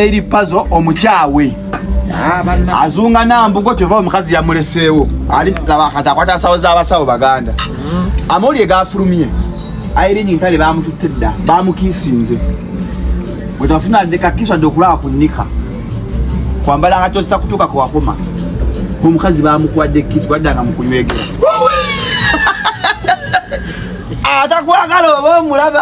eri pazo omukyawe ah, azunga nambugo kyova omukazi yamuleseewo ali laba kati akwata nsawo z'abasawo baganda hmm. amawulire gafulumye airingi ntale bamututte dda bamukiisinze wetafuna ndekakiso adde okulaba ku nika kwambala nga kyosita kutuuka kwakoma omukazi bamukwadde kisi baddanga mukunywegera atakwagala oba omulaba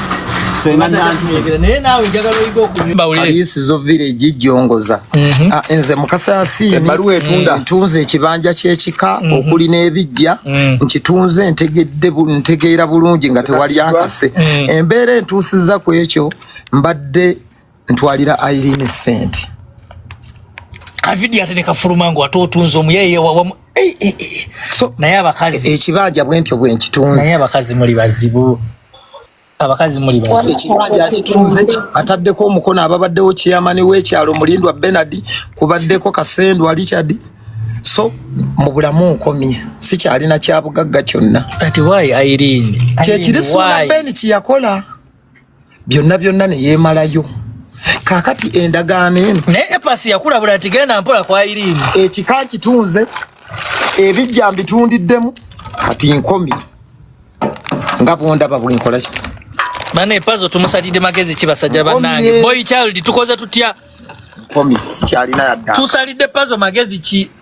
senga nantuegera naye naawe njagala oyiga okuyiisizo village jongoza mhm. ah, nze mukasa yasiini ebbaluwa etunda mm. ntunze ekibanja ky'ekika mhm. okuli n'ebijja mm. nkitunze ntegedde ntegeera bulungi nga tewali ankase mm. embeera entuusiza ku ekyo mbadde ntwalira Irene sente kavidiyo ate nekafuluma ngu ate otunze omuyeye wawamu eh, eh, eh, so, naye abakazi ekibanja bwentyo bwenkitunze naye abakazi muli bazibu abakazi muli bazibu ekibanja akitunze ataddeko omukono ababaddewo kiyamani wekyalo mulindwa benard kubaddeko kasendwa richard so mu bulamu nkomye sikyalina kyabugagga kyonna kati wayi irene kyekiri sula ben kyeyakola byonna byonna ne yeemalayo kakati endagaano eno naye epasi yakulabula nti genda mpola kwa iriini ekika kitunze ebijja mbitundiddemu kati nkomi nga bwondaba bwenkola ki bana epazo tumusalidde magezi ki basajja bannange boy child tukoze tutya nkomi sikyalina yadda tusalidde pazo magezi ki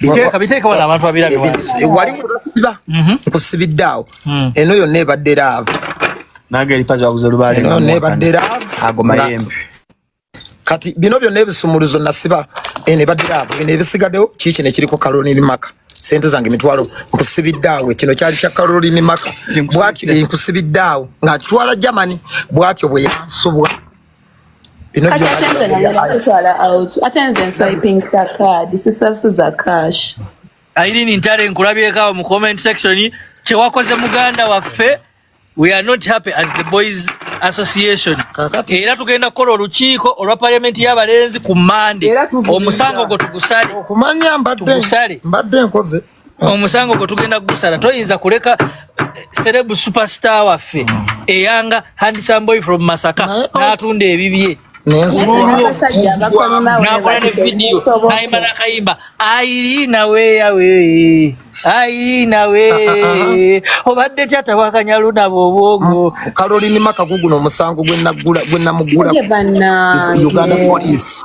biteeka biteeka wala abantu abirabe wali kusiba mhm. kusibidde awo hmm. eno yonna ebadde laavu nange eripa zabuze lubaale eno yonna ebadde laavu ago mayembe kati bino byonna ebisumuluzo nasiba eno ebadde laavu bino ebisigaddewo kiiki nekiriko kaloniri maka sente zange mitwalo nkusibidde awo kino kyali kya kaloniri maka bwatyo nkusibidde awo ng'akitwala germany bwatyo bwe yansubwa kati atenze nayotwala out atenze nswiping za card sisabusi za cash ayirini ntale nkulabyeko awo mu comment section kyewakoze muganda waffe we are not happy as the boys association era tugenda kukola olukiiko olwa parliament y'abalenzi ku mande omusango gwo tugusale okumanya mbadde nkoze omusango gwe tugenda kugusala toyinza kuleka serebu eh, superstar waffe mm. eyanga handsome boy from masaka oh. n'atunda ebibye nakola ne vidiyo nayimba nakayimba ayi nawe yawe ayi nawe obadde tyata wakanyaluna bobwongo mm, kalolini makaguguno omusango gwenamugula uganda police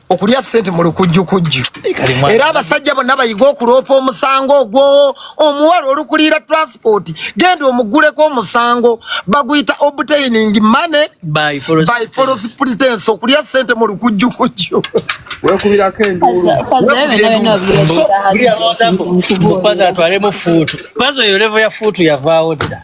okulya sente mu lukujjukujju era abasajja bonna bayiga okuloopa omusango ogwo omuwala olukuliira transport genda omuguleko omusango baguyita obtaining money by foros pretense okulya sente mu lukujjukujju wekubirako enduulupazo atwalemu fuutu pazo eyo levo ya fuutu yavaawo dda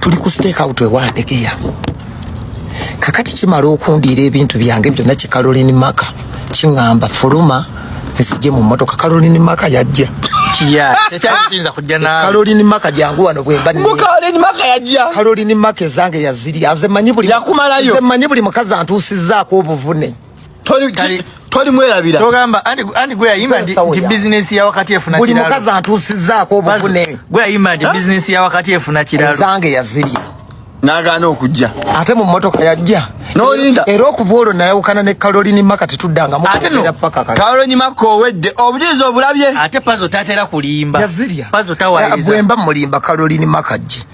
tuli ku stake out ewadegeya kakati kimala okundiira ebintu byange byonna ki caroline maka kiŋamba fuluma nsije mu motoka caroline maka yajja kalolini maka jangu wano bwembakalolini maka ezange yaziri azemanyi buli mukazi antuusizaako obuvune toli Kali- toli mwerabira togamba andi andi gwe yayimba nti Sawa nti ya. business ya wakati efuna buli kiralo mukazi antuusizzaako obuvune gwe yayimba nti business ya wakati efuna kiralo ezange yazirya n'agaana okujja ate mu mmotoka yajja N'olinda. era okuva olwo nayawukana ne kalolini maka tetuddangamu Ate no. kwogera paka kale. kawolonyi makka owedde obujulizi obulabye ate pazo tatera kulimba yazirya pazo Eh, tawayiriza bwemba mulimba kalolini makajje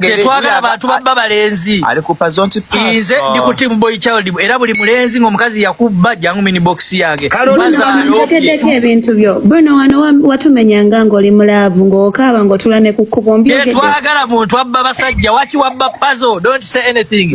tetwagala bantu babba balenzi nze ndi ku timu boy child era buli mulenzi ng'omukazi yakubba jangu mini box yange njogeddeko ebintu byo bwino wano watumenyanga ng'oli mulaavu ng'okaaba ng'otula ne ku kkubo mbyogedde tetwagala muntu abba basajja waki wabba pazo don't say anything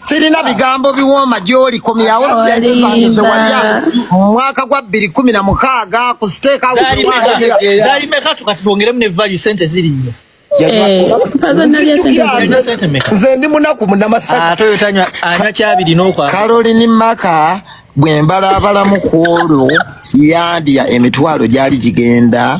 sirina bigambo biwooma gy'oli komyawo sente zange ze walya mu mwaka gwa bbiri kkumi na mukaaga ku siteeka zaali meka tukatutwongeremu ne value sente ziri nnyo Eh, nze ndi munaku munamasanywa ah, kyabiri nokwa karolini maka bwembalaabalamu ku olwo yandya emitwalo gyali gigenda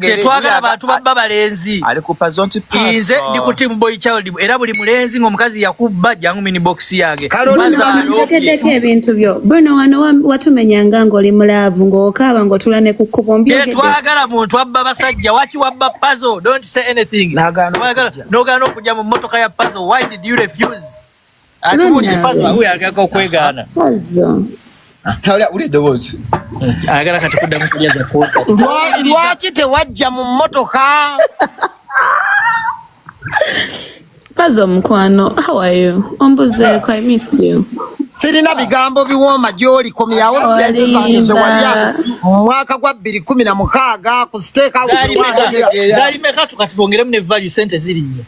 tetwagala bantu babba balenzi nze ndi ku team boy child era buli mulenzi ng'omukazi yakubba jangu mini box yange jogeddeko ebintu byo bwino wano watumenyanga ng'oli mulaavu ng'okaaba ng'otula ne ku kkubo tetwagala muntu abba basajja waki wabba pazo don't say anything n'ogaana okujja mu mmotoka ya pazo why did you refuse lwaki tewajja mu mmotoka pazo mukwano hawayo ombuzeeko i miss you sirina bigambo biwooma gyoli komyawo sente zange zewalya mu mwaka gwa bbiri kumi na mukaaga ku siteeka zali meka tukatulongeremu ne value sente ziri nnyo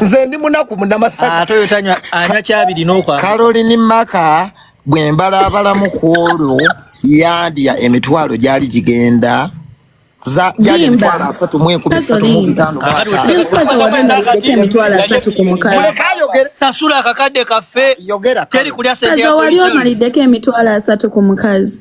nze ndi munaku munamasakaroline ah, maka bwe mbalaabalamu ku olwo yandya emitwalo gyali gigenda gyali emitwalo asatu mu enkumi esatu mu bitaanolekayogera akakadde kaffe yogera wali omaliddeko emitwalo asatu ku mukazi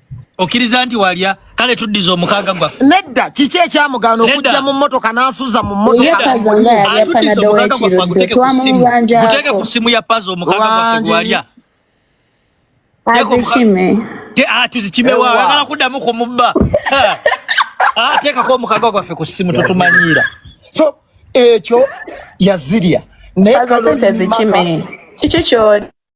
okiriza nti walya kale tuddiza omukaaga gwaffe nedda kiki ekyamugaana okujja mu mmotoka n'asuza mu mmotokaguteeke ku ssimu ya pazo omukaaga gwaffe gwalya ah, tuzikime wa agala kuddamu ku mubba ah, teekako omukaaga gwaffe ku ssimu tutumanyiira so ekyo yazirya naye kalozikime kiki kyoli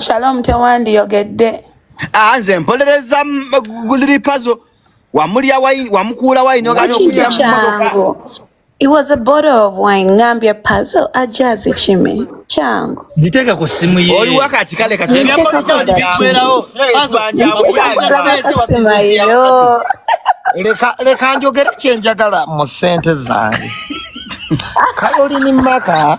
Shalom Tewandi yogedde. Ah, nze mpolereza guliri pazo wamulya wine wamukuula wine oganya okulya mmotoka. It was a bottle of wine ngambye pazo ajazi kime changu. Ziteka ku simu ye. Oli wakati kale kati. Ngamba kya ndi bikwerawo. Pazo anja amuyayo. Leka leka njogera kyenjagala mu sente zange. Kayoli ni maka.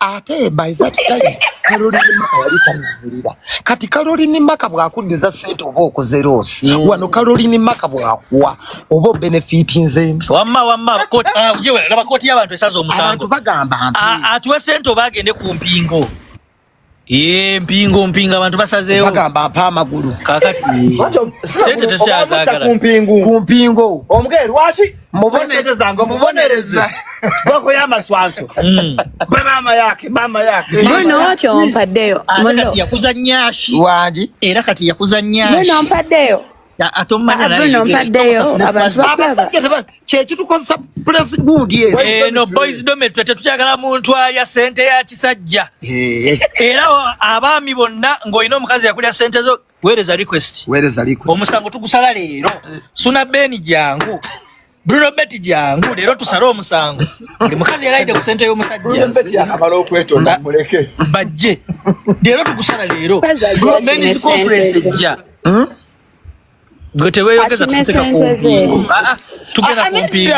ate by that time Caroline Maka yali tannawulira kati Caroline Maka bw'akuddiza sente oba okoze loosi mm. wano Caroline Maka bw'akuwa oba obenefiti nze wamma wamma laba kooti y'abantu esaza omusango bagamba atuwe sente oba agende ku mpingo Ye mpingo mpinga abantu basazeewo bagamba mpa amagulu kakati sente tekyazagala ku mpingo ku mpingo omugere lwaki mubonereza boko yamaswanso mm. bamama yake mama yake nonotyompaddeyo yakuza nyashi wangi era kati yakuza nyashi nonompad-deyo kyekitukozesa pulesi gundi eno boys dometry tetukyagala muntu alya sente ya kisajja era abaami bonna ng'olina omukazi yakulya sente zo Weereza request. Weereza request. Omusango tugusala leero. Eh. Suna Beni jangu. Bruno Betty jangu leero tusala omusango. Ndi mukazi yalaide ku sente y'omusajja. Bruno Betty akamala okwetonda muleke. Bajje. Leero tugusala leero. Bruno Betty conference ja. Hmm? Gwe teweyogeza tuteka ku mpingu. Ah, ah, tugenda ku mpingu.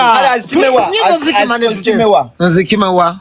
Nzikimewa. Nzikimewa.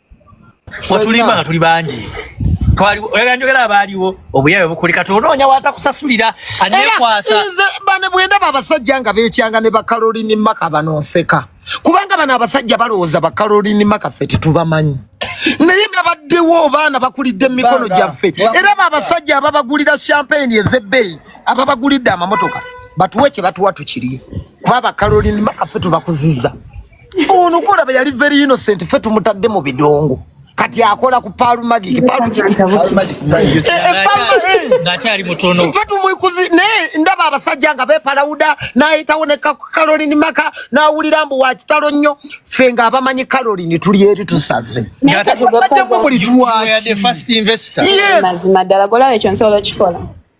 watulimba nga tuli bangi oyagala njogera abaaliwo obuyawe bukuli kati onoonya watakusasulira anekwasa bane bwendaba abasajja nga bekyanga ne bakalolini maka banonseka kubanga bano abasajja balowooza bakalolini maka ffe tetubamanyi naye babaddewo baana bakulidde mu mikono gyaffe era babasajja ababagulira champagne ezebbeeyi ababagulidde amamotoka batuwe kye batuwa tukirye kuba bakalolini maka ffe tubakuziza ono kulaba yali very innocent fe tumutadde mu bidongo kati akola ku paalu magiki paalu ngakyali mutono fe tumwikuzi naye ndaba abasajja nga bepalawuda nayitawo ne kalolini maka nawulira mbu wakitalo nnyo fe nga abamanyi kalolini tuli eri tusaze bajjamu buli tuwaki mazima ddala golaba ekyo nsobola okikola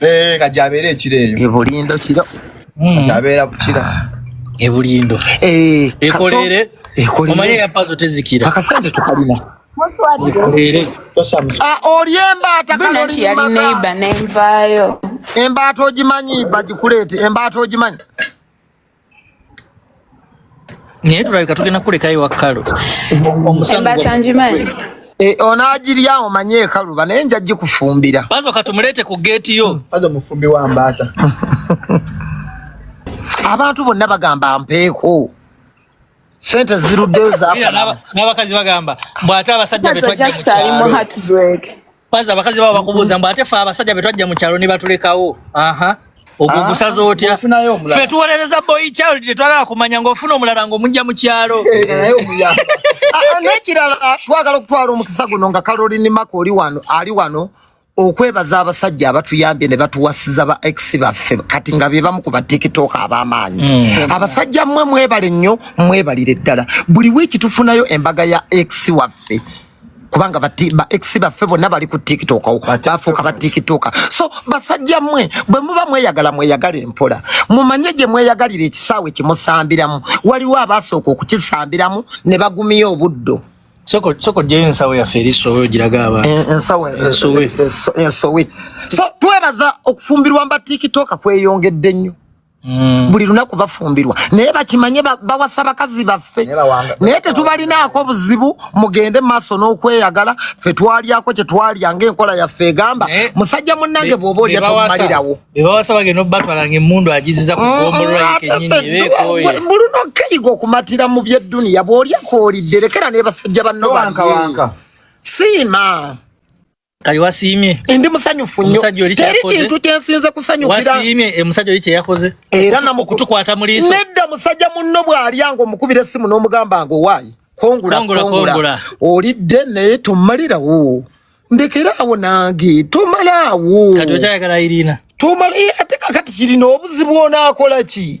Eh, kati abeera ekiro eyo. Ebulindo kiro. Hmm. Abeera bukira. Ebulindo. Eh, ekolere. Ekolere. Omanye ya pazo tezikira. Akasente tukalina. Ekolere. Ah, olyemba atakalo lima. Yali neighbor nembayo. Embato ogimanyi bagikuleete. Embato ogimanyi. naye tulabika tugenda kulekayo wakkalu omusangimanyi eh, onagirya omanye ekaluba naye nja gikufumbira bazo katumuleete ku geeti yo bazo mufumbi wa mbaata abantu bonna bagamba mpeeko sente ziruddeyo zanabakazi bagamba bwate abasajja betwajja mu kyalo Kwanza abakazi babo bakubuuza mbu ate fe abasajja be twajja mu kyalo ne batulekawo. Aha. Ogwo ah, gusaza otya? Fe tuwolereza boy child tetwagala kumanya ng'ofuna omulala ng'omujja mu kyalo. Eh, naye omuyamba. Ah, n'ekirala ah, twagala okutwala omukisa guno nga Caroline Mako oli wano ali wano okwebaza abasajja abatuyambye ne batuwasiza ba ex baffe kati nga bebamu ku batiktok ab'amaanyi mm. abasajja mmwe mwebale nnyo mwebalire ddala buli wiiki tufunayo embaga ya ex waffe kubanga ba ex baffe bonna bali ku tiktok bafuuka ba tiktok so basajja mwe bwe muba mweyagala mweyagala empola mumanye gye mweyagalira ekisaawe kimusambiramu waliwo abaasooka okukisambiramu ne bagumiya obuddo soko soko je ensawo ya feri sowe jiraga aba eh, ensawo eh, ensowe ensowe eh, so twebaza okufumbirwa mba tiktok kweyongedde nnyo Mm. buli lunaku bafumbirwa naye bakimanye bawasa bakazi baffe naye tetubalinaako buzibu mugende maaso n'okweyagala fe twalyako kye twalya ngaenkola yaffe egamba musajja munnange bwoba olya tomalirawo mbuluna okeyiga okumatira mu byedduniya bw'olyako olidde lekera nebasajja banno siima kali wasiimye ndi musanyufu nnyo teri kintu kyensinze kusanyukira wasiimye e musajja oli kyeyakoze era namu kutukwata mu liiso nedda musajja munno bw'alya ng'omukubira essimu n'omugamba nga owaayi kongula kongula olidde naye tomalirawo ndekera awo nange tomala awo kati okyayagala irina tomala ate kakati kirina obuzibu onaakola ki